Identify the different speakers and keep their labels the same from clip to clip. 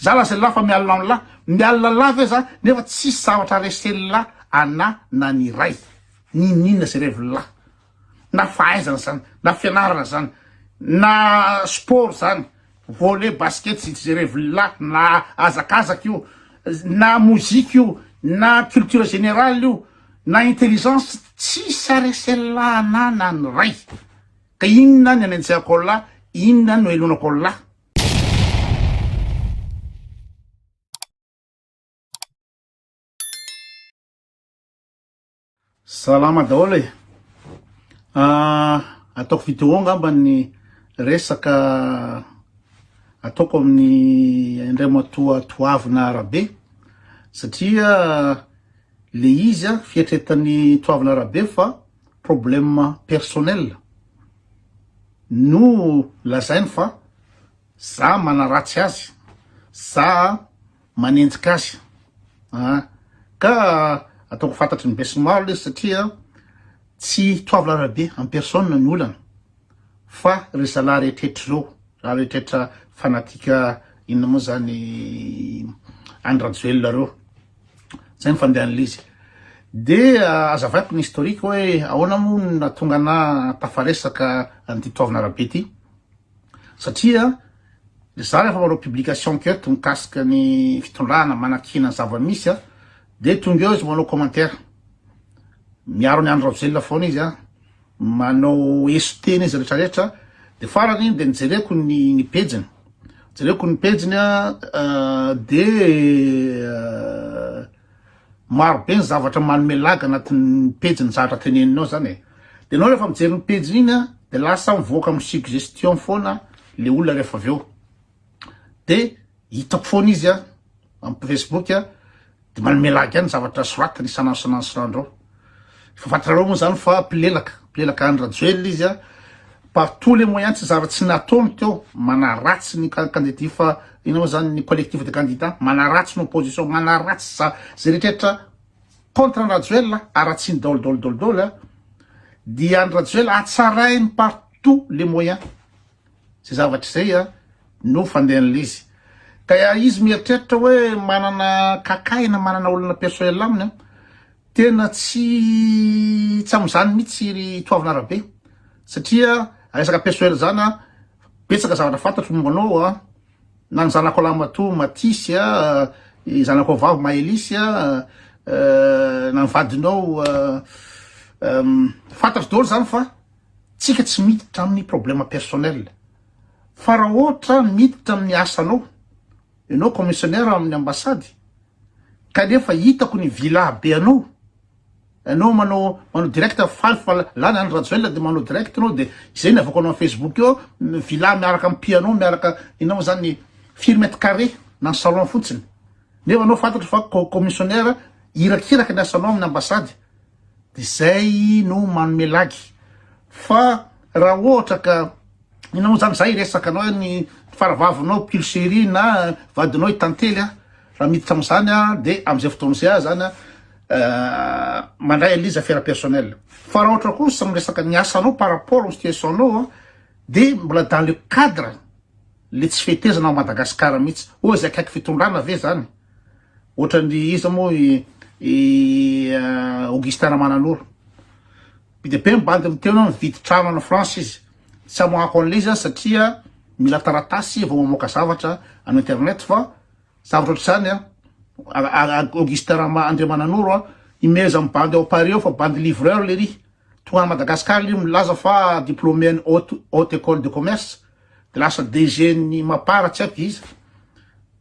Speaker 1: Za lazain'i Lahy fa mialona amin'ny Lahy, mialona Lahy ve za nefa tsisy zavatra resen'i Lahy anah na ny iray? Ninoninona ze revin'i Lahy? Na fahaizana zany, na fianarana zany, na sport zany, volley, basket, zitry ze revin'i Lahy, na hazakazaka io, na mozika io, na culture générale io, na intelligence, tsisy aresen'i Lahy anah na ny iray! Ka inona ny anenjehako an'i Lahy, inona no henonako an'i Lahy? Salama daholo e! Ah, ataoko vidéo angamba ny resaka ataoko amin'ny indray matoa toavina arabe satria le izy a fiatretan'ny toavina arabe fa problème personnel. No lazainy fa za manaratsy azy, za manenjika azy an! Ka ataoko fantatry ny besinimaro ilay izy satria tsy Toavilahy Rabe en personne no olana fa ry zalahy rehetrretra ireo, zalahy rehetrretra fanatique inona moa zany Andry Rajoelina ireo. Zay ny fandehan'ilay izy. Dia azavaiko ny historique hoe ahoana moa no nahatonga anà tafaresaka an'ity toavina arabe ity. Satria za rehefa manao publication eto mikasika ny fitondrana manakiana ny zava-misy dia tonga eo izy manao commentaire. Miaro an'i Andry Rajoelina foana izy. manao eso tena izy rehetra rehetra de farany iny de nijereko ny ny pejiny jereko ny pejiny a de maro be ny zavatra manome laga anatin'ny pejiny zavatra teneniny ao zany e de enao rehefa mijery ny pejiny iny a de lasa mivoaka amin'ny suggestion foana le olona rehefa avy eo dia hitako foana izy a amin'ny facebook a dia manome lagy any zavatra soratany isan'andro isan'andro isan'andro eo efa fantatrareo moa zany fa mpilelaka mpilelaka Andry Rajoelina izy a par tous les moyens tsy zavatra tsy nataony teo manaratsy ny candidat fa ina moa zany ny collectif de candidats manaratsy ny opposition manaratsy za zay rehetrarehetra contre Andry Rajoelina aratsiny daholo daholo daholo daholo a dia Andry Rajoelina hatsarainy par tous les moyens Zay zavatra zay a no fandehan'ilay izy. Dia izy mieritreritra hoe manana kakahy na manana olona personnel aminy a, tena tsy tsy amin'izany mihitsy ry Toavina Rabe satria resaka personnel zany a betsaka zavatra fantatro momba anao a, na ny zanako lahimatoa Matisy a, ny zanako vavy Maëlys a, na ny vadinao fantatro daholo zany fa. Tsika tsy miditra aminy problème personnel fa raha ohatra miditra aminy asanao enao commissionnaire aminy ambassade kanefa hitako ny villa be anao enao manao manao direct faly fa lany any rajoelina de manao direct enao de izay ny avako anao facebook eo villa miaraka am piano miaraka inona mo zany firy mètre carré na ny salon fotsiny nefa enao fantatro fa commissionnaire irakiraka ny asanao aminy ambassade Izay no manome lagy. Fa raha ohatra ka ianao zany, za hiresaka anao hoe ny faravavinao Pulchérie na vadinao i Tantely a, raha miditra am'zany a, de am'zay fotoana zay aza zany a, mandray an'le izy affaire personnelle. Fa raha ohatra kosa miresaka ny asanao par rapport amin'ny situation-nao a, de mbola dans le cadre le tsy fetezana ao Madagasikara mihitsy. Oa izay akaiky fitondrana ve zany? Ohatran'ny iza moa i i Augustin Ramananoro. Be dia be ny bandy miteny hoe mividy trano any France izy. Tsy amoahako an'ilay izy aho satria mila taratasy vao mamoaka zavatra amin'ny internet fa zavatra ohatr'izany an, Augustin Rama Andriamananoro an, imeheza amin'ny bandy ao Paris ao fa bandy livreur lery. Tonga any Madagascar lery milaza fa diplômé an'ny haute haute école de commerce dia lasa DG-n'ny Mapar tsy haiko iza.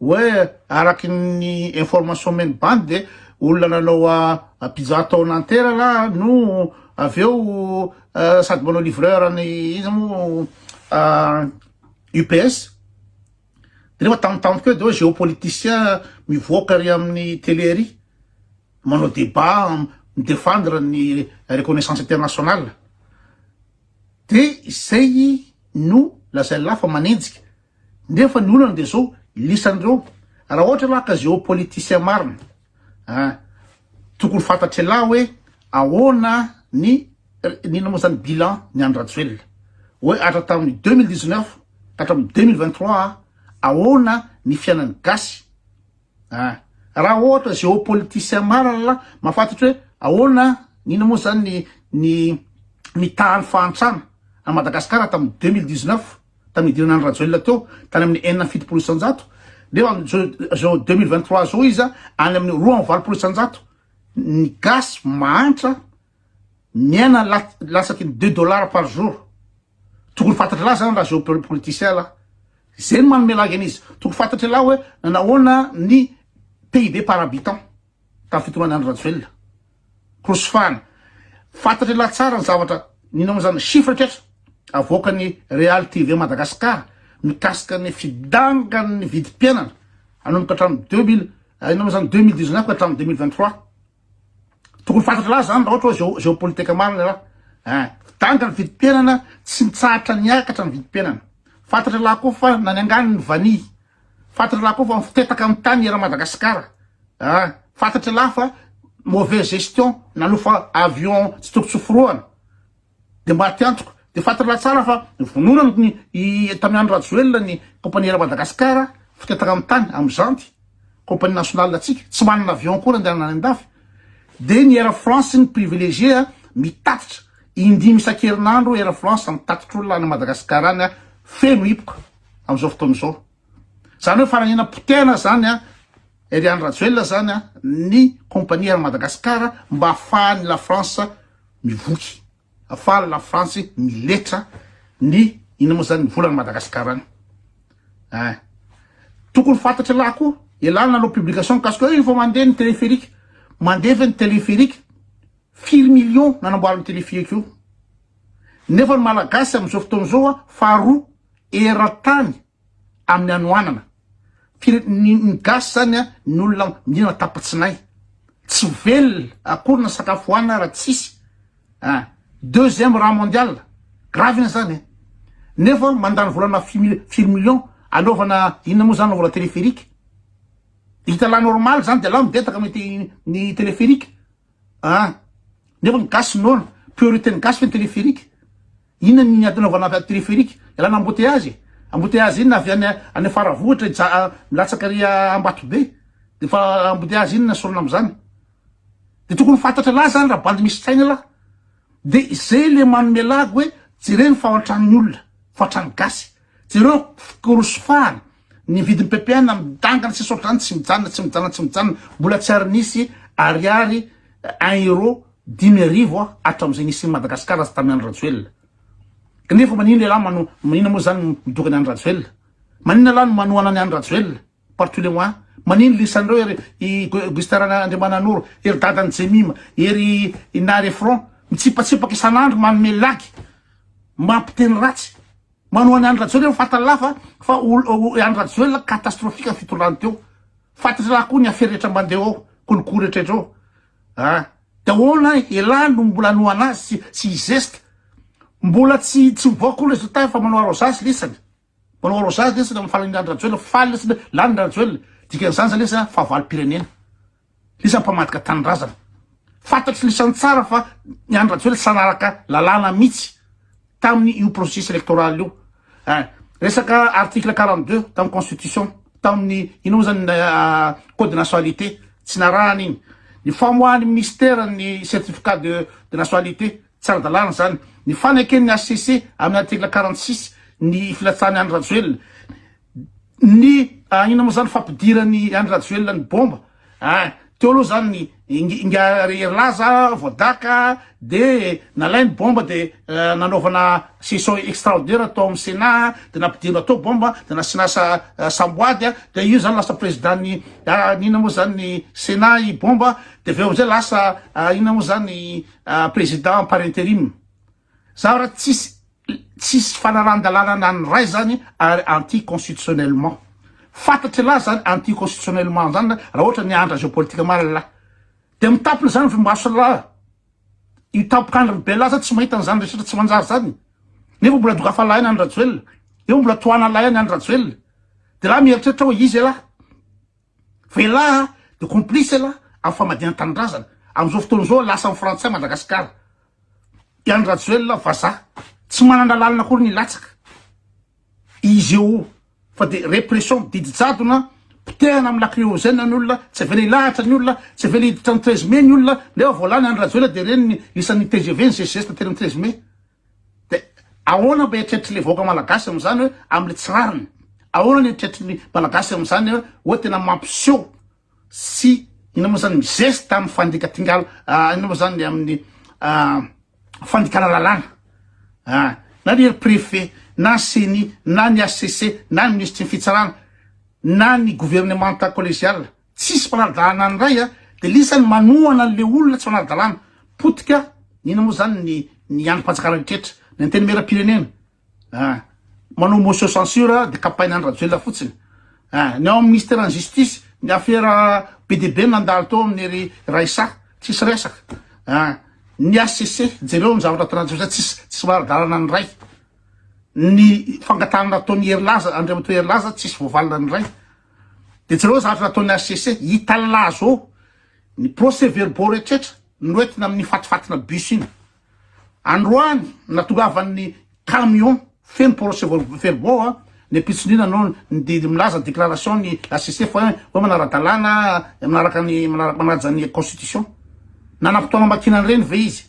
Speaker 1: Hoe araky ny information omen'ny bandy dia olona nanao a pizza tao Nanterre ra no avy eo sady manao livreur any iza moa UPS dia nefa tamin'ny tamiko eo dia hoe géopoliticien mivoaka ary amin'ny télé ary manao débat mi-défendre ny reconnaissance internationale dia izay no lazain'lah fa manenjika. Nefa ny olana dia zao lisan'ireo raha ohatra lah ka géopoliticien marina ah tokony fantatr'elah hoe ahoana ny n'inona moa zany bilan ny an'i Rajoelina hoe atra tamin'ny deux mille dix neuf ka hatramin'ny deux mille vingt trois ahoana ny fiainan'ny gasy Ah! Raha ohatra géopoliticien marina lah mahafantatry hoe ahoana an, inona moa zany ny ny nitaha ny fahantrana an'i Madagasikara tamin'ny deux mille dix neuf tamin'ny nidirana andry Rajoelina teo tany amin'ny enina amby fitopolo isan-jato nefa amin'izao izao deux mille vingt trois zao izy any amin'ny roa amby valopolo isan-jato ny gasy mahantra miaina la- lasaky ny deux dollars par jour Tokony fantatra lahy zany raha geopoliticien lahy. Zay no manome lagy an'izy. Tokony fantatra lahy hoe nanahoana ny PIB par habitant tamin'ny fitondrana Andry Rajoelina. Crosfan. Fantatra lahy tsara ny zavatra nino an'izany chiffre tretra avoakan'ny Real TV Madagascar mikasika ny fidangan'ny vidim-piainana anomboka hatramin'ny deux mille inona moa zany deux mille dix neuf ka hatramin'ny deux mille vingt trois. Tokony fantatra laza zany raha ohatra hoe géopolitique marina raha. Eh, danga ny vidim-piainana, tsy mitsahatra niakatra ny vidim-piainana. Fantatra laha koa fa na ny angano ny vanihy. Fantatra laha koa fa mifotetaka amin'ny tany eran'i Madagasikara. Ah, fantatra laha fa mauvaise gestion nanofa avion tsy tokony tsy hoforohana. Dia mba aty antoko dia fantatr'lah tsara fa vonona ny i Tamy Andry Rajoelina ny compagnie Air Madagascar fotetaka amin'ny tany amin'ny Zanty, compagnie nationale antsika, tsy manana avion akory andehanana any an-dafy, dia ny Air France ny privilégié mitatitra, indimy isan-kerinandro Air France mitatitr'olona any Madagascar any feno hipoka amin'izao fotoana izao. Zany hoe fananina potehana zany an Eliane Rajoelina zany an ny compagnie Air Madagascar mba afahan'ny la France mivoky afahan'ny la France miletra ny ina moa zany ny volan'i Madagascar any eh tokony fantatry lahy koa elana nanao publication mikasika hoe efa mandeha ny téléphérique mandeha ve ny téléphérique firy millions nanamboarany téléphérique io nefa ny malagasy amin'izao fotoana izao a faharoa eran-tany amin'ny hanoanana fire ny ny gasy zany a ny olona mihinana tapa-tsinay tsy ho velona akory na sakafo hohanina raha tsisy a deuxième raha mondial gravy iny zany e nefa mandany volana fimil firy million anaovana inona moa zany anaovana téléphérique hita la normal zany de la mibetaka mety ny téléphérique a nefa ny gasy noana priorité ny gasy ve ny téléphérique Inona ny ady anaovana telepherique? Ialana embouteillage e! Embouteillage inona? Avy any any Faravohitra hija milatsaka ary Ambatobe de efa embouteillage inona sorona amzany? De tokony fantatra lahy zany raha bandy misy saina lahy de zay le manome lagy hoe jereo ny fahantrany olona, fahantrany gasy, jereo ny fikorosofahany. Ny vidin'ny ppn midangana sy saotr'izany tsy mijanona tsy mijanona tsy mijanona mbola tsy ary nisy ariary un euro dimy arivo a hatramin'izay nisian'i Madagasikara azy tamin'i Andry Rajoelina kanefa maninona ialahy mano maninona moa izany midoka an'i Andry Rajoelina maninona ialahy no manohana an'i Andry Rajoelina par tous les moyens maninona lisan'ireo ery i Gustin Rana Andriamananoro ery dadan'i Jemima ery i Nary Efron mitsipatsipaka isan'andro manome lagy mampiteny ratsy Manohana Andry Rajoelina eo fantany lafa fa i Andry Rajoelina catastrophique ny fitondrany teo. Fantatry lahy koa ny affaire rehetra mandeha ao, kolikoly rehetraretra ao. Ah, de ahoana elah no mbola hanohana azy tsy tsy hizesta. Mbola tsy tsy mivoaka koa ny résultat efa manao arrosage lesany. Manao arrosage lesany amin'ny fahalalindr'Andry Rajoelina, faly lesany hoe lany Rajoelina. Dikan'izany zany lesany fahavalom-pirenena. Iza mpamadika tanindrazana? Fantatry lisany tsara fa ny an'i Rajoelina tsy nanaraka lalàna mihitsy tamin'ny io processus electoral io. Eh, resaka article 42 tamin'ny constitution, tamin'ny ino moa zany ah, code de nationalité, tsy narahana iny. Ny famoahan'ny ministère ny certificat de, de nationalité, tsy ara-dalàna zany. Ny faneken'ny HCC amin'ny article 46 ny filatsahan'i Andry Rajoelina, Ny ah inona moa zany fampidiran'i Andry Rajoelina ny bomba ah teo aloha zany ny inga herilaza voadaka de nalainy bomba de nanaovana session extraordinaire tao amin'ny Sénat de nampidirina tao bomba de nasiana samboady ah de io zany lasa président-n'ny ah inona moa zany ny Sénat i bomba de avy eo amizay lasa inona moa zany président par interim Zaho raha tsisy tsisy fanarahan-dalàna na ny iray zany ary anti constitutionnellement. Fantatry lahy zany anti constitutionnellement zany lahy raha ohatra miandra géopolitique marina lahy. Dia mitampina zany ry maso lahy. Io tampok'andro ry be lahy zany tsy mahita an'zany rehetra tsy manjary zany. Nefa mbola dokafa lahy any Andry Rajoelina. Eo mbola tohana lahy any Andry Rajoelina. Dia lahy mieritreritra hoe izy e lahy. Fa elah de complice elah am famadihan tanindrazana amzao fotoana zao lasa am frantsay Madagascar i Andry Rajoelina vazaha tsy manana lalana akory ny latsaka izy eo fa de repression didy jadona potehana am lacryogène ny olona tsy avela ilahatra ny olona tsy avela hiditra ny treize mai ny olona nefa vao lany Andry Rajoelina de reny ny lisany tgv ny ggsta tery ny treize mai Dia ahoana mba eritreritry le vahoaka malagasy amzany hoe amle tsy rariny? Ahoana ny eritreritry ny malagasy amzany hoe hoe tena mampiseho sy inona moa zany mizesta amin'ny fandika tingala inona moa zany amin'ny fandikana lalàna ah na ny ry préfet na ny ceni na ny HCC na ny minisitry ny fitsarana na ny gouvernemanta collegiale Tsisy mpanara-dalàna ny ray a! Dia lisa ny manohana an'le olona tsy manara-dalàna. Potika inona moa zany ny ny andrim-panjakana rehetra? Ny antenimieram-pirenena a! Manao motion censure dia kapaina an'i Rajoelina fotsiny a! Ny ao amin'ny minisiteran'ny justice ny afera be dia be nandalo tao amin'ny ry Raissa tsisy resaka a! Ny HCC jereo ny zavatra ataon'i Rajoelina tsisy tsisy manara-dalàna ny ray. Ny fangatahana nataon'i Herilaza, Andriamatoa Herilaza tsisy voavalinan'ny ray. Dia jereo zavatra nataon'ny hcc, hita là zao ny procès verbaux rehetra noentina amin'ny fatifatina bus iny. Androany natongavan'ny camion feno procès verbaux a, ny ampitson'ina no ny milaza déclaration ny hcc fa hoe manara-dalàna, manaraka ny manaja ny constitution. Nanam-potoana hamakiana an'ireny ve izy?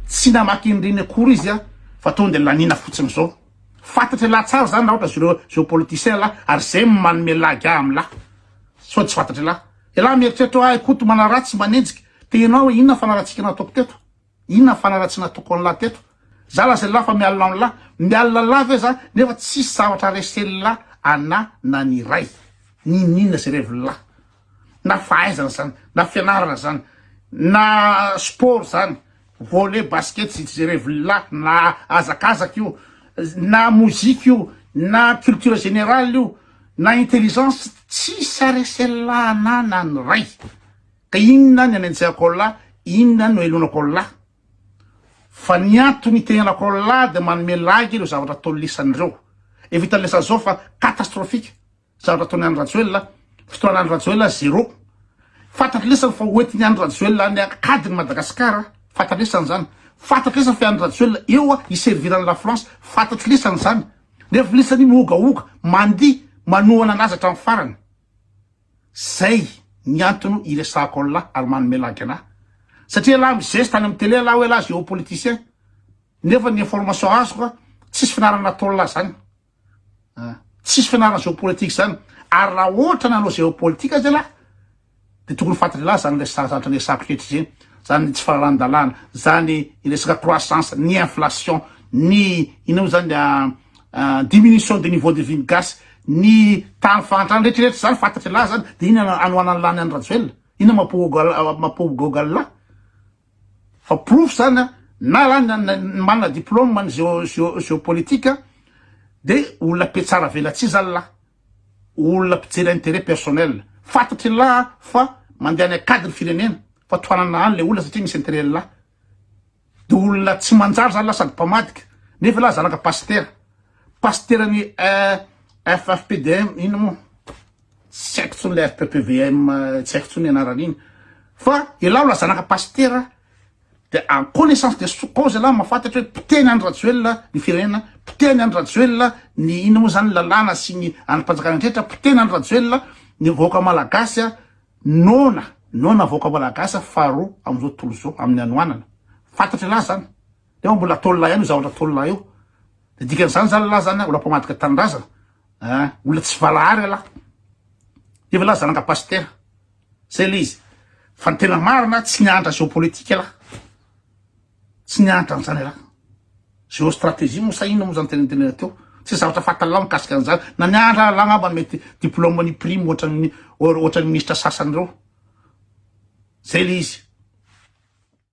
Speaker 1: Tsy namaky an'ireny akory izy a, fa tonga dia laniana fotsiny zao. Fantatry lahy tsara zany raha ohatra zreo zreo politiciens lahy ary zay no manome lagy ahy am lahy sao tsy fantatry lahy elah mieritreritra oa ahy koto manaratsy manenjika te enao oe inona fanaratsika nataoko teto inona fanaratsy nataoko an lahy teto za lazainy lahy fa mialona am lahy mialona lahy ve za nefa tsisy zavatra resen'ny lahy anah na ny iray ninoninona ze reviny lahy na fahaizana zany na fianarana zany na sport zany volley basket tsy jerevilla na azakazaka io na mozika io na culture generale io na intelligence tsisy aresella anana ny ray ka inona ny anenjehako Allah inona no elonako Allah fa ny antony itenenako Allah de manome lagy ireo zavatra tolisan'ireo efa hitan'ny lesy zao fa catastrophique Zandry ataony any Rajoelina a. Fotoana any Rajoelina zéro. Fantatry lesany fa ho entiny any Rajoelina any akady ny Madagascar a. Fantatry lesany zany. Fantatry lesany fa any Rajoelina eo a hi servir any la France. Fantatry lesany zany. Nefa lesany mihogahoga, mandihy, manohana anazy hatramin'ny farany. Zay ny antony iresahako anlah ary manome lagy anah. Satria ialahy mizeste any amin'ny télé ialahy hoe ialahy géopoliticien. Nefa ny information azoko a, tsisy fianarana nataonlah zany. Tsisy fianarana géopolitique zany ary raha ohatra nanao géopolitique aza ialahy de tokony fantatry ialahy zany resaka zatra resako rehetra zeny zany tsy faharahan-dalàna zany resaka croissance ny inflation ny ino moa zany diminution de niveau de vie ny gasy ny tany fahantrana rehetrarehetra zany fantatry ialahy zany de ino anohanan'ny lany any Rajoelina ino mapohogo mapohogo Google. Fa porofo zany an, na ra manana diplôme ny géopolitique dia olona mpiatsara velatsihy zany lah, olona mpijery intérêt personnel. Fantatry ny lah fa mandeha any an-kady ny firenena, fa tohanana any le olona satria misy intérêt ny lah. Dia olona tsy manjary zany lah sady mpamadika, nefa lah zanaka pasitera, pasiteran'ny FFPDM inona moa. tsy haiko tsony le RPPVM tsy haiko tsony anaran'iny fa ialahy mbola zanaka pasitera de en connaissance de cause ialahy mafatatra hoe potehiny Andry Rajoelina ny firenena potehiny Andry Rajoelina ny inona moa zany ny lalàna sy ny andrim-panjakana rehetra potehiny Andry Rajoelina ny vahoaka malagasy a noana noana vahoaka malagasy faharoa amin'izao tontolo izao amin'ny hanoanana fatatra ialahy zany nefa mbola ataon'ilahy ihany io zavatra ataon'ilahy io de dikan'izany zany ialahy zany a mbola mpamadika tanindrazana ah olona tsy valahara ialahy efa laza zanaka pasitera zay le izy fa ny tena marina tsy nianatra géopolitique ialahy tsy nianatra an'izany ialahy géostratégie moa sa inona moa zany tena tena teo tsy zavatra fatalao mikasika an'izany na nianatra ialahy angamba mety diplôme ny prime ohatran'ny ohatran'ny ministra sasany ireo zay le izy